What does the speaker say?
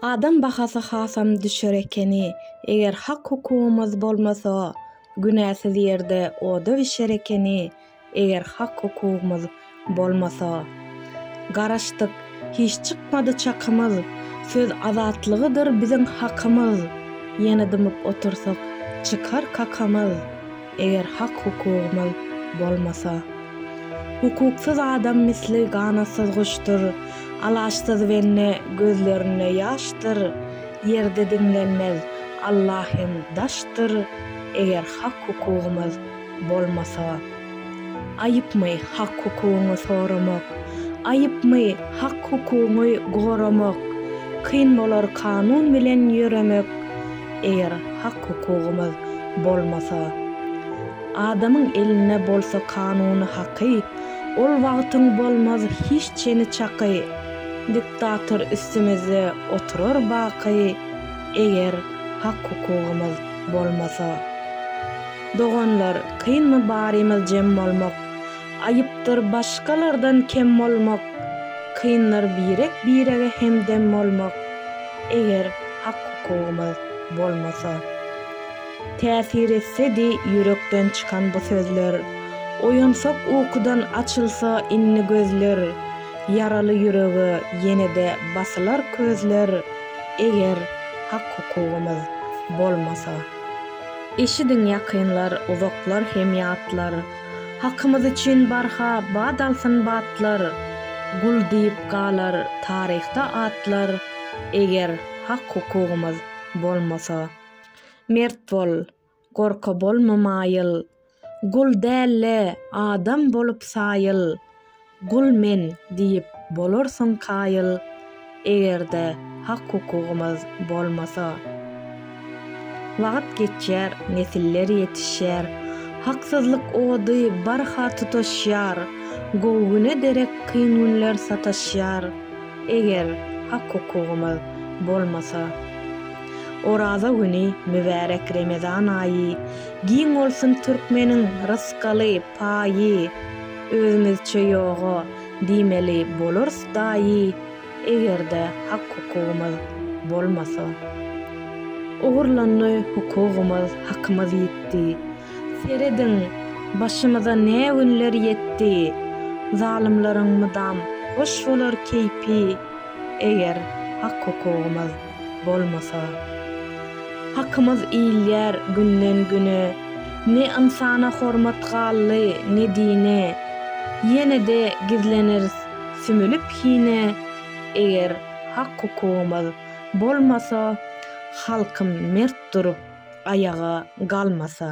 Adam bahasy hasam düşer ekeni, eger hak-hukugymyz bolmasa, günäsiz ýerde oda bişer ekeni, eger hak-hukugymyz bolmasa. Garaşdyk, hiç çykmady çakymyz, söz azatlygydyr biziň hakymyz, ýene dymyp otursak, çykar kakamyz. eger hak-hukugymyz bolmasa. Hukuksyz adam misli ganatsyz guşdur, alaçsyz bende gözlerinde ýaşdyr, ýerde diňlenmez Alla hem daşdyr, eger hak-hukugymyz bolmasa. Aýypmy hak-hukugyňy soramak, aýypmy hak-hukugyňy goramak, kyn bolar kanun bilen ýöremek, Eger hak-hukugymyz bolmasa, adamyň elinde bolsa kanuny-haky, ol wagtyň bolmaz hiç çeni-çaky, diktator üstümizde oturar baky, eger hak-hukugymyz bolmasa. Doganlar, kynmy barymyz jem bolmak, aýypdyr başgalardan kem bolmak, kyndyr birek-birege hemdem bolmak. Eger hak-hukugymyz bolmasa. Täsir etsedi ýürekden çykan bu sözler, Oýansak ukudan açylsa indi gözler, Ýaraly ýürege ýene-de basylar közler, Eger hak-hukugymyz bolmasa. Eşidiň ýakynlar, uzaklar hem ýatlar. Hakymyz üçin barha bat alsyn batlar, Gul diýip galar taryhda atlar, Eger hak-hukugymyz bolmasa. Mert bol, gorka bolma maýyl, Gul däl-le, adam bolup saýyl, Gul men diýip bolarsyň kaýyl, eger-de hak-hukugymyz bolmasa. Wagt geçýär, nesiller ýetişýär, haksyzlyk ody barha tutaşýar, gowy güne derek kyn günler sataşýar, eger hak-hukugymyz bolmasa. Oraza güni, mübärek Remezan aýy, giň bolsun türkmeniň rysgaly paýy! Özümizçe ýoga diýmeli bolarys daýy egerde hak hukugymyz bolmasa. Ogurlandy hukugymyz hakymyz ýitdi. Serediň başymyza ne günler ýetdi. Zalymlaryň mydam hoş bolar keýpi eger hak hukugymyz. bolmasa. Hakymyz iýilýär günden güne, ne ynsana hormat galdy ne dine, ýenede gizleneris sümülip hine, eger hak hukugymyz bolmasa, halkym mert durup aýaga galmasa.